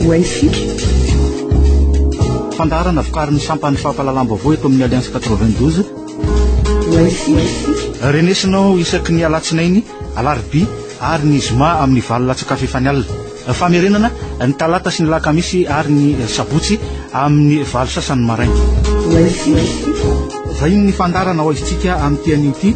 Wifi. Fandaharana vokarin'ny sampan'ny fampahalalam-baovao eto amin'ny Alliance 92. Wifi. Renesinao isaky ny alatsinainy, alarobia ary ny zoma amin'ny valo latsakafy efa ny alina. Famerenana ny talata sy ny lakamisy ary ny sabotsy amin'ny valo sasany maraina. Wifi. Vahiny ny fandaharana ao izintsika amin'ity anio ity.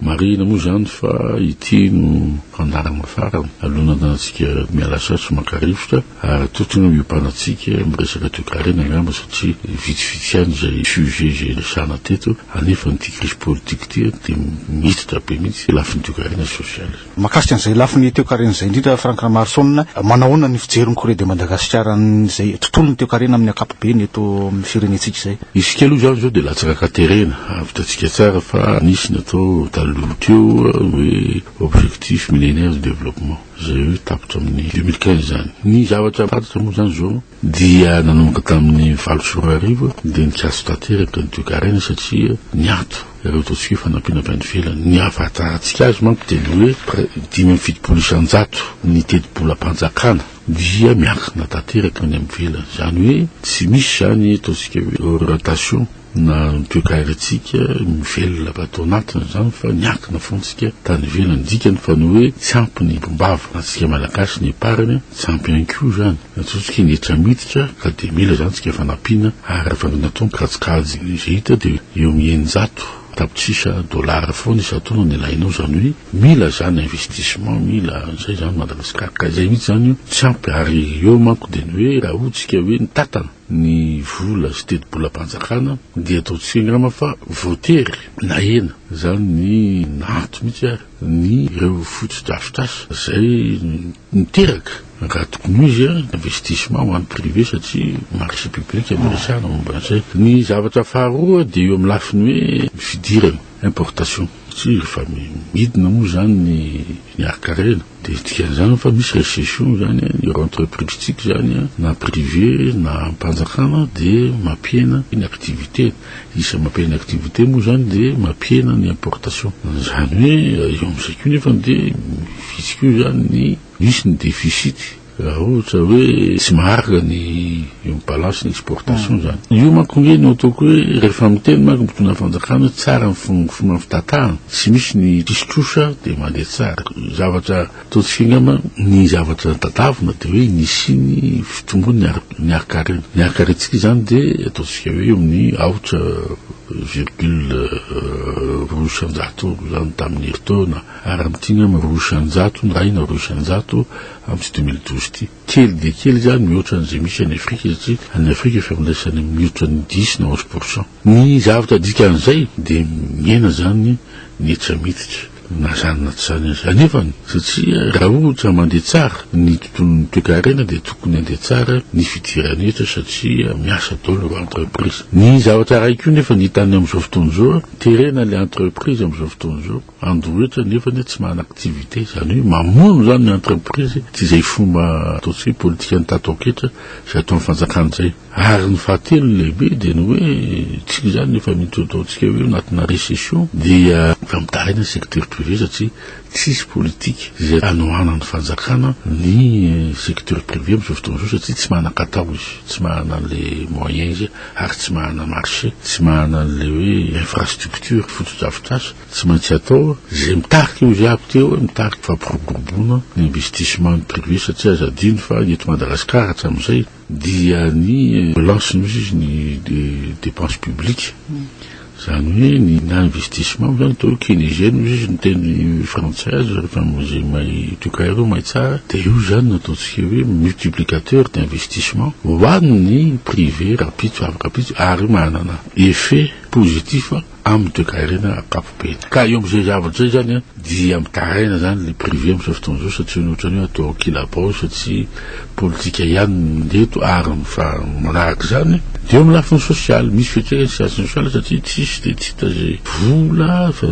Marihina moa izany fa ity no fandaharana farany alohan'ny andantsika miala sasy sy maka rivotra ary tokony hiompanatsika amin'ny resaka toekarena angamba satria vitsivitsy ihany izay sujet izay resahana teto anefa ity crise politique ity dia miditra be mihitsy lafiny toekarena sy sosialy. Mahakasika an'izay lafiny toekarena izay indrindra, Franck Ramarison, manahoana ny fijery ny Corée de Madagascar an'izay tontolon'ny toekarena amin'ny ankapobeny eto amin'ny firenentsika izay? Izy kely hoy izany izao dia latsaka katerena, avy hitantsika tsara fa nisy ny atao taloha teo hoe objectif millénaire de développement izay hoe tapitra amin'ny deux mille quinze izany. Ny zavatra fantatra moa izany izao, Dia nanomboka tamin'ny valo sy roa arivo dia nikatso tanteraka ny toekarena satria niato ireo ataontsika hoe fanampiana avy any ivelany. Ny ahafantarantsika azy manko dia ny hoe dimy amby fitopolo isanjato ny tetibolam-panjakana dia miankina tanteraka any ivelany. Izany hoe tsy misy izany ataontsika hoe orientation. na ny toekarentsika mivelona ato anatiny izany fa niankina foana tsika tany ivelany dikany fa ny hoe tsy ampy ny mpimbava antsika malagasy ny epargne tsy ampy ihany koa izany natsotsoka eny hetra miditra ka dia mila izany tsika fanampiana ary raha vao natao ny kajikajy izay hita dia eo amin'ny eninjato tapitrisa dollars foana isan-taona ny ilainao izany hoe mila izany investissement mila izay izany Madagasikara ka izay mihitsy izany io tsy ampy ary eo manko dia ny hoe raha hoy tsika hoe ny tatana ny vola sy tetibolam-panjakana dia ataontsika angamba fa voatery nahena izany ny nahato mihitsy ary ny ireo fotodrafitrasa izay niteraka raha tokony ho izy investissement ho an'ny privé satria marché public no resahana momba an'izay. Ny zavatra faharoa dia eo amin'ny lafiny hoe fidirana. importation tsy rehefa midina moa zany ny harkarena dia dikan'izany fa misy recession zany ireo entreprise tsika zany na privé na ampanjakana dia mampihena ny activité isan'ny mampihena activité moa zany dia mampihena ny importation zany hoe eo amizay koa nefany dia vitsy koa zany ny misy ny deficite Raha ohatra hoe tsy maharaka ny eo balance ny exportation zany. Io manko nge no ataoko hoe rehefa miteny manko mitondra fanjakana hoe tsara ny fomba fitatahana, tsy misy ny diso trosa dia mandeha tsara. Zavatra ataontsika angamba ny zavatra tadavina dia hoe ny hisian'ny fitombon'ny ny harin-karena. Ny harin-karentsika izany dia ataontsika hoe eo amin'ny aotra virgule roa isan-jato izany tamin'ny herintaona. Ary amin'ny dimy amby roa isan-jato na enina roa isan-jato amin'ity deux mille douze ity. Kely dia kely izany mihoatra an'izay misy any Afrika satria any Afrika fifandraisana mihoatra ny dix na onze pour cent. Ny zavatra dikan'izay dia mihena izany ny hetra miditra na izany na tsy izany aza. Anefany, satria raha ohatra mandeha tsara ny tontolon'ny toekarena dia tokony handeha tsara ny fidiran'ny hetra satria miasa daholo ireo entreprise. Ny zavatra iray koa nefa ny hita any amin'izao fotoana izao, terena ilay entreprise amin'izao fotoana izao. Andohitra nefa anie tsy manana activité, izany hoe mamono izany ny entreprise ity izay fomba ataontsika hoe politikan'ny tataoketra izay ataon'ny fanjakana izay. Ary ny fahatelo ny lehibe dia ny hoe isika izany efa mety ataontsika hoe anatina recession dia fampitahina ny secteur privé satria tsisy politika izay anohanan'ny fanjakana ny secteur privé amin'izao fotoana izao satria tsy manan-katao izy, tsy manana an'ilay moyen izy ary tsy manana marché, tsy manana an'ilay hoe infrastructure, fotodrafitrasa. Tsy maintsy atao izay mitarika io viako teo hoe mitarika fampiroboroboana ny investissement privé satria aza adino fa eto Madagascar hatramin'izay dia ny relance no izy ny dépense publique izany hoe ny na investissement izany atao hoe keynésien hoy izy ny teny frantsay azy rehefa izay mahay toka ireo mahay tsara dia io izany no ataontsika hoe multiplicateur d'investissement ho an'ny privé rapitso avy rapitso ary manana effet positif amin'ny toekarena ankapobeny. Ka eo amin'izay zavatra izay izany dia mitaraina izany ilay privé amin'izao fotoana izao satria ny ohatran'ny hoe atao kilabao satria politika ihany no mandeha eto ary ny faha manaraka izany dia eo amin'ny lafiny sosialy. Misy fiantraikany science sociale satria tsisy dia tsy hita izay vola fa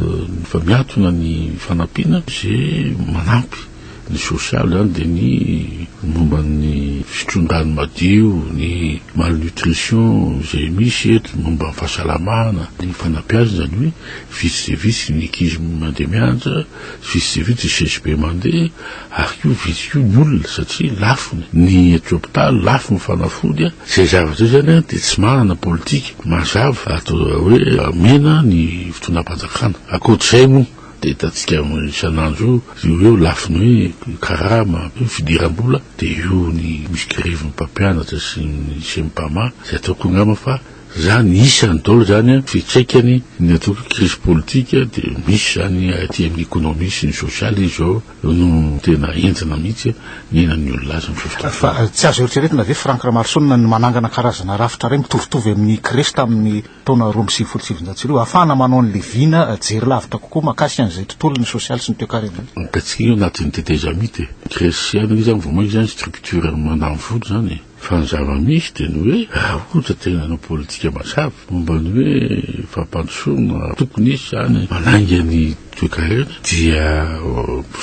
fa miantona ny fanampiana izay manampy. Ny sosialy izany dia ny momba ny fitron-drano madio, ny malnutrition izay misy eto, momba ny fahasalamana, ny fanabeazana izany hoe vitsy dia vitsy ny ankizy mandeha mianatra, vitsy dia vitsy ny CSP mandeha, ary koa vitsy koa ny olona satria lafo ny aty hopitaly, lafo ny fanafody a. Izay zavatra izay izany dia tsy manana politika mazava atao hoe hamena ny fitondram-panjakana. Ankoatr'izay moa. Dia hitantsika isan'andro io, io eo lafiny hoe karama, fidiram-bola, dia io ny misy grevin'ny mpampianatra sy ny Sempama, izay ataoko angamba fa izany isany daholo izany an, fiantraikany ny atao hoe krizy politika dia misy izany aty amin'ny ekonomia sy ny sosialy izao no tena entina mihitsy ny ainan'ny olona azy amin'ny fifidianana. Fa tsy azo eritreretina ve Franck Ramaroson ny manangana karazana rafitra iray mitovitovy amin'ny Crest amin'ny. taona roa amby sivifolo sy sivinjato sy arivo, ahafahana manao ny leviana jery lavitra kokoa mahakasika an'izay tontolon'ny sosialy sy ny toekarena. Hitantsika io anatin'ny tetezamita e. Gresiana io izany vao mainka izany structure mandany vola izany e. Fa ny zava-misy dia ny hoe raha ohatra tena hanao politika mazava momba ny hoe fampandrosoana tokony hisy izany manainga ny toekarena dia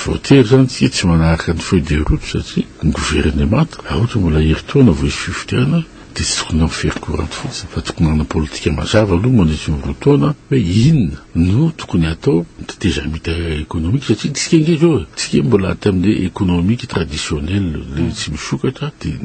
voatery izany isika tsy manaraka ny feuille de route satria ny governemanta raha ohatra mbola herintaona vao hisy fifidianana Dia tsy tokony hampiferokorany fotsiny fa tokony manana politika mazava aloha mandritra ny roa taona hoe inona no tokony hatao ny tetezamita ekonomika satria tsika ange zao e, tsika mbola aty amin'ny hoe ekonomika traditionnel le tsy misokatra dia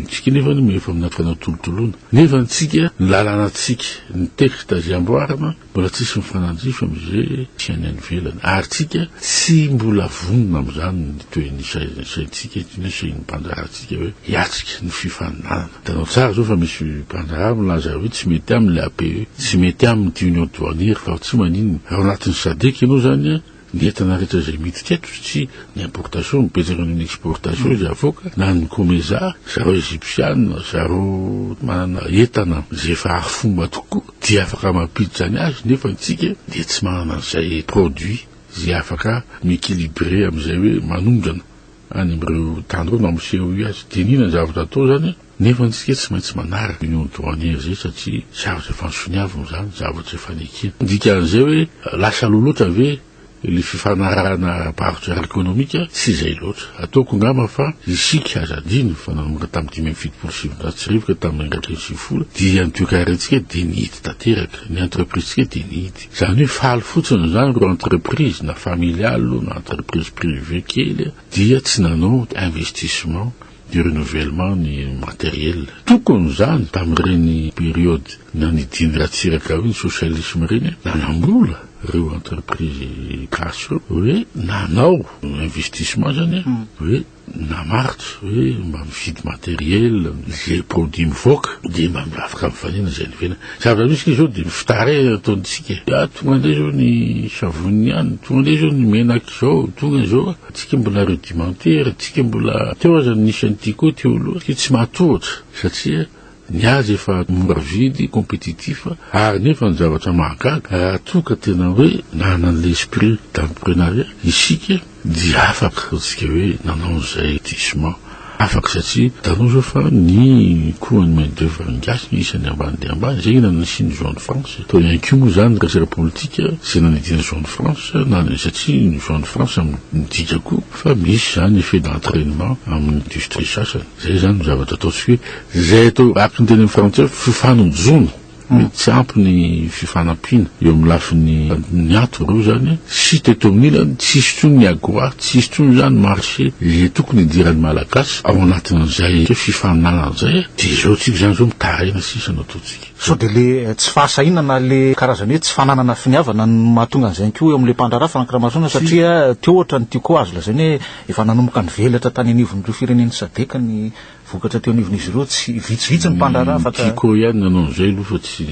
tsika nefa no efa anaty fanatolotoloana nefa ny tsika ny lalàna tsika ny texte azy amboarina Mbola tsisy mifanandrify amin'izay tsy any ivelany, ary tsika tsy mbola vonona amin'izany ny tohin'ny saintsika etsy na sain'ny mpandrahary tsika hoe hiatrika ny fifaninanana. Hitanao tsara izao fa misy mpandrahary milaza hoe tsy mety aminy ilay APE, tsy mety aminy ity Union Douanière fa tsy maninona. Ao anatin'ny Sadec ianao izany an! Ny entana rehetra izay miditra eto tsy ny importation no betsaka noho ny exportation izay avoaka na ny comeza zareo egyptiana zareo manana entana izay efa arifomba tokoa dia afaka mampiditra ny azy nefa antsika dia tsy manana an'izay produit izay afaka mi-equilibrer amin'izay hoe manondrana any amin'ireo tany ireo na miseho io aza. Dinihina ny zavatra atao izany an! Nefa antsika tsy maintsy manaraka union douanière zay satria zavatra efa nisoniavina izany, zavatra efa nekena. Dikan'izay hoe lasa aloha loatra ve ilay fifanarahana ara-barotra ara-ekonomika? Tsy izay loatra. Ataoko angamba fa isika, aza adino fa nanomboka tamin'ny dimy amby fitopolo sy sivinjato sy arivo ka tamin'ny iraika amby sivifolo dia ny toekarentsika dia nihidy tanteraka, ny entreprise-tsika dia nihidy. Izany hoe faly fotsiny izany ireo entreprise na familiale na entreprise privée kely dia tsy nanao investissement. ny renouvellement ny materiel tokony zany tamin'ireny periode nanidiany Ratsiraka ireo ny socialisme ireny eh nanambola ireo entreprise gasy ireo hoe nanao investissement zany eh mm. hoe namaritra hoe mba mifidy materiel ze produit mivoaka de mba afaka mifanena zay nivena zavatra misy izao de fitare ataontsika eh. ah tonga ndray zao ny savony ihany tonga ndray zao ny menaka izao tonga izao Tsika mbola rudimentaire, tsika mbola teo aza ny nisy an'ity koa teo aloha, tsika tsy matohotra satria ny azy efa mora vidy, compétitif, ary nefa ny zavatra mahagaga raha toa ka tena hoe nanana an'ilay esprit d'entreprenariat isika dia afaka ataontsika hoe nanao an'izay diso man. Afaka satria hitanao zao fa ny koa ny main d'oeuvre gasy no isany ambany dia ambany zay na nisiany zone France tao ihany koa moa zany ny resaka politika zay nanidina zone France na ny satria ny zone France midika koa fa misy zany effet d'entrainement amin'ny industrie sasany zay zany no zavatra ataontsika hoe zay atao akiny teny amin'ny frantsay fifanojoana Tsy ampy ny fifanampiana eo amin'ny lafiny niato ireo izany sy teto amin'ny ilany tsy hisy intsony ny agora, tsy hisy intsony izany ny marché izay tokony hidiran'ny Malagasy ao anatin'izay fifaninanana izay dia izao tsika izany izao mitaraina sisa no ataontsika. Sao dia ilay tsy fahasahiana na ilay karazany hoe tsy fananana finiavana no mahatonga an'izay ihany koa eo amin'ilay mpandraharaha Franck Ramarosaona satria teo ohatra ny tiako azo lazaina hoe efa nanomboka nivelatra tany anivon'ireo firenen'ny Sadec ny Vokatra teo anivon'izy ireo tsy vitsivitsy ny mpandraharaha fa ka. Chico ihany nanao an'izay aloha fa tsy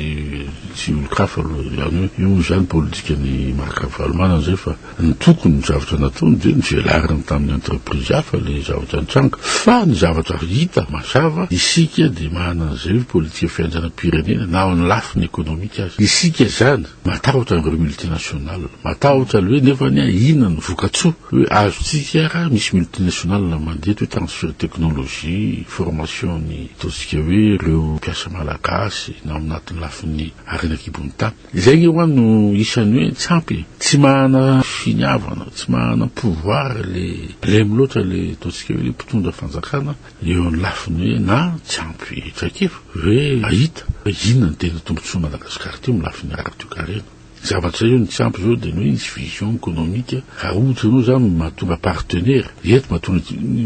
tsy olon-kafa aloha izany hoe io moa izany politikan'i Marc Ravalomanana izay fa ny tokony ny zavatra nataony dia ny velariny tamin'ny entreprise hafa ilay zavatra nitranga fa ny zavatra hita mazava isika dia manana an'izay hoe politika fianjanam-pirenena na ao amin'ny lafiny ekonomika aza isika izany Matahotra ireo multinational, matahotra aloe nefa anie inona ny vokatsoa hoe azontsika raha misy multinational mandeha toy transfert technologie, formation ny ataontsika hoe ireo mpiasa malagasy na amin'atin'ny lafiny harena an-kibon'ny tany. Izay nge hoa no isan'ny hoe tsy ampy e! Tsy mahana finiavana, tsy mahana pouvoir le blem loatra le ataontsika hoe le mpitondra fanjakana, Eo ny lafiny hoe na tsy ampy traikefa ve hahita hoe inona no tena tombontsoan'i Madagasikara aty amin'ny lafiny ara-toekarena. Ny zavatra eo ny tsy ampy izao dia ny hoe nisy vision ekonomika raha ohatra ianao izany no mahatonga partenaire eto mahatonga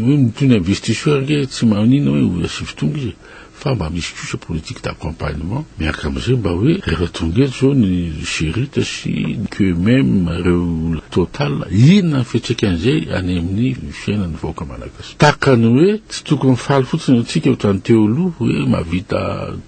hoe toy ny investisseur ange tsy maninona hoe ho asivo tonga izy fa mba misy kosa politique d'accompagnement miaraka amin'izay mba hoe rehefa tonga eto izao ny Gerit sy ny QMM ireo Total inona ny fiantraikan'izay any amin'ny fiainan'ny vahoaka malagasy. Tahaka ny hoe tsy tokony faly fotsiny antsika otrany teo aloha hoe mahavita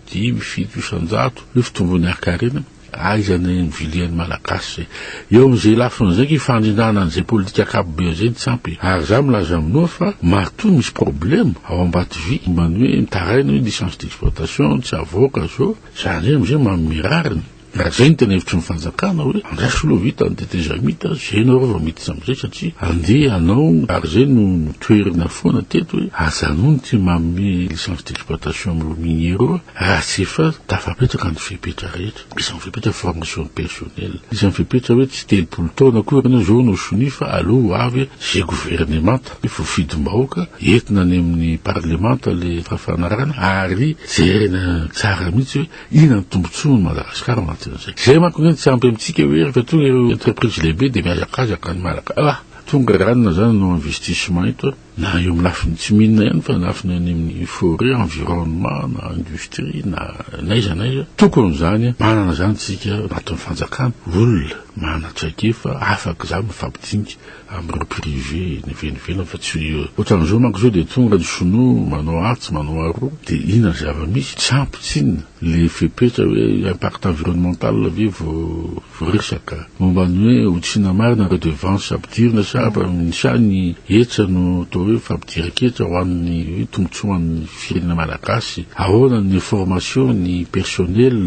dimy, fito isan-jato hoe fitomboan'ny hakarena. Aiza ny nivilian'ny Malagasy izay? Eo amin'izay lafiny izay ko ifandrindrana an'izay politika ankapobeny izay no tsy ampy e! Ary za milaza minoa fa matoa misy problème ao Ambatovy momba ny hoe mitaraina hoe licence d'exploitation tsy avoaka zao, zany hoe amin'izay manome rariny. Raha izay no tena hevitry ny fanjakana hoe andraso aloha vita ny tetezamita mita, izay ianareo vao miditra amin'izay satria andeha hanao ary izay no notoherina foana teto hoe aza anony ity manome licence d'exploitation amin'ireo miniers ireo raha tsy efa tafapetraka ny fepetra rehetra. Misy ny fepetra formation personnel, misy ny fepetra hoe tsy telopolo taona akory ianao izao no sonia fa aleo ho avy izay governemanta hoe voafidim-bahoaka entina any amin'ny parlemanta ilay fafanarana ary jerena tsara mihitsy hoe Inona no tombontsoan'i Madagasikara ao anatin'izay? Izay manko anie no tsy ampy amintsika hoe rehefa tonga ireo entreprise lehibe dia mihazakazaka ny Malaka ah! Tonga izany na izany no investissement eto na eo amin'ny lafiny tsy mine ihany fa ny lafiny any amin'ny forêt, environnement na industrie na n'aiza n'aiza. Tokony izany manana izany tsika ao anatin'ny fanjakana olona manana traikefa afaka izany mifampidinika Amin'ireo privé ny venovenona fa tsy io e. Ohatran'izao manko izao dia tonga ny sinoa manao atsy manao aroa dia inona ny zava-misy? Tsy ampy tsinona ilay fepetra hoe impact environnemental ve vao resaka. Momba ny hoe ho tsinona marina ireo devances ampidirina sa amin'ny sa ny hetra no atao hoe fampidiran-ketra ho an'ny hoe tombontsoan'ny firenena malagasy? Ahoana ny information ny personnel?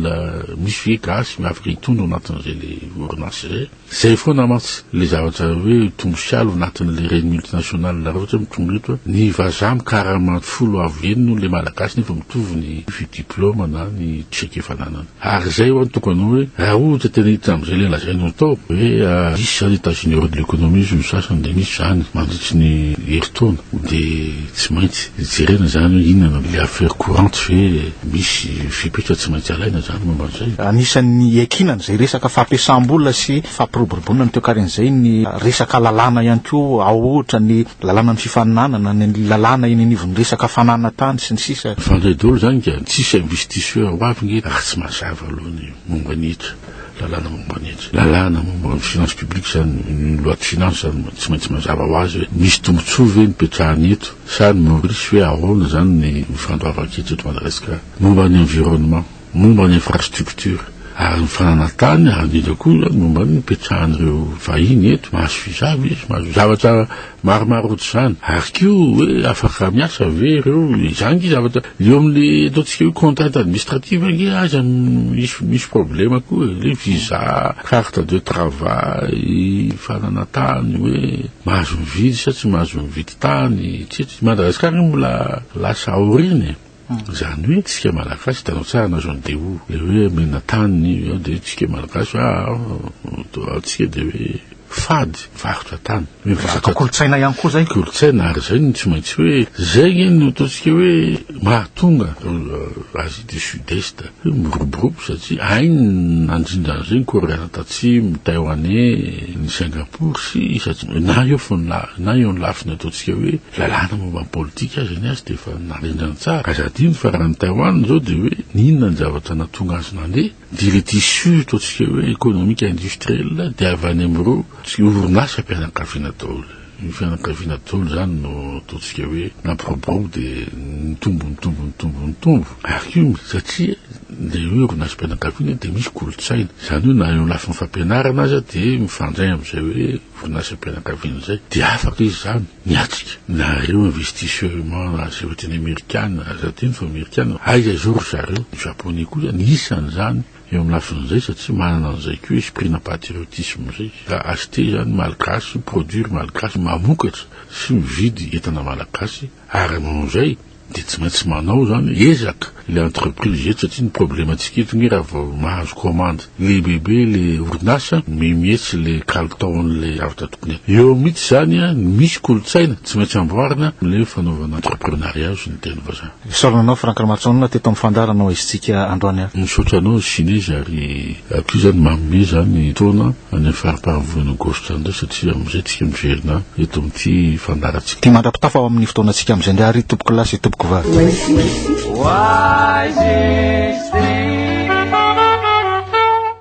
Misy ve gasy afaka hitondra ao anatin'izay ilay orinasa izay? Zay foana mantsy le zavatra hoe mitombo sy alo anatin'le reny multinationale nareo ohatra hoe mitombo eto a, ny vazaha mikarama folo avo eny noho le malagasy nefa mitovy ny vy diploma na ny cheque efa ananany. Ary zay ho'a no tokony hoe raha ohatra tena hiditra am'zay le lazainao atao hoe misy zany états généraux de l'économie hozy ny sasany de misy zany mandritry ny herintaona de Tsy maintsy jerena izany hoe inona no le affaire courante ve misy fepetra tsy maintsy alaina izany momba an'izay. Anisan'ny iankinana izay resaka fampiasam-bola sy fampiroboroboana ny toekarena izay ny resaka lalàna ihany koa ao ohatra ny lalànan'ny fifaninanana, ny lalàna eny anivon'ny resaka fananana tany sy ny sisa. Fandray dolo izany ka tsisy investisseur ho avy nge raha tsy mazava aloha ny momba ny hetra. Lalàna momba ny etsy. Lalàna momba ny finance publique izany, ny loi de finance izany tsy maintsy mazava ho azy hoe misy tombontsoa ve nipetrahany eto sa ny Maorisy hoe ahoana izany ny fandoavan-ketra eto Madagasikara. Momba ny environnement, momba ny infrastructure ary ny fananantany ary indrindra koa izany momba ny nipetrahan'ireo vahiny eto, mahazo visa ve izy, mahazo zavatra. Maromaro ohatr'izany. Ary koa hoe afaka miasa ve ireo? Izany ange zavatra eo amin'ny ataontsika hoe contrainte administrative ange aza misy misy problème koa e. Le visa, carte de travail, fanana tany hoe mahazo mividy sa tsy mahazo mividy tany, etsetra. I Madagasikara io mbola lasa aoriana e. Izany hoe tsika malagasy hitanao tsara na zone DO le hoe menina tany ao dia tsika malagasy hoe ah, ah, ah, tsika dia hoe fady varotra tany hoe varotra kolontsaina ihany koa zay kolontsaina ary zay no tsy maintsy hoe zay nge no ataontsika hoe mahatonga euh, asie du sud est hoe miroborobo satria ainy nandrindra an'izay ny koreana tatsimo ny taïwanais ny singapour sy satria na eo fo na eo ny lafiny ataontsika hoe Lalàna momba ny politika aza ny azy dia efa narendrany tsara. Aza adino fa raha ny Taiwan izao dia hoe n'inona ny zavatra nahatonga azy nandeha dia ilay tissu ataontsika hoe economique industriel dia avy any amin'ireo orinasa mpianakaviana daholo. Io fianakaviana daholo izany no ataontsika hoe nampiroborobo dia nitombo nitombo nitombo nitombo ary koa satria ilay hoe orinasampianakaviana dia misy kolontsaina. Izany hoe na eo amin'ny lafiny fampianarana aza dia mifandray amin'izay hoe. Vondrompianakaviana izay dia afaka izy izany miatrika na ireo investisseument na izay ohatry ny amerikana na za teny fa amerikana aiza izao ry zareo ny japonais koa izany isany izany eo amin'ny lafiny izay satria manana an'izay koa esprit na patriotisme izay ka acheter izany malgache produire malgache mamokatra sy mividy entana malagasy Ary noho izay dia tsy maintsy manao izany ezaka ilay entreprise eto satria ny problemantsika eto nge raha vao mahazo commande lehibebe ilay orinasa mi mihetsy ilay kalitaon'ilay avy tato Pinay. Eo mihitsy izany ny misy kolontsaina tsy maintsy amboarina amin'ilay hoe fanaovana entreprenariat sy ny teny vazaha. Isaorana anao Franck Ramatsonona teto amin'ny fandaharanao aizintsika androany. Misaotra anao Shinez ary. Aty izany manome izany taona any amin'ny faripahavolana Aogositra any indray satria amin'izay tsika miverina eto amin'ity fandaharantsika. Ty mandra-pitafa ao amin'ny fotoanantsika amin'izay indray ary tompoko lahy sy tompoko vavy.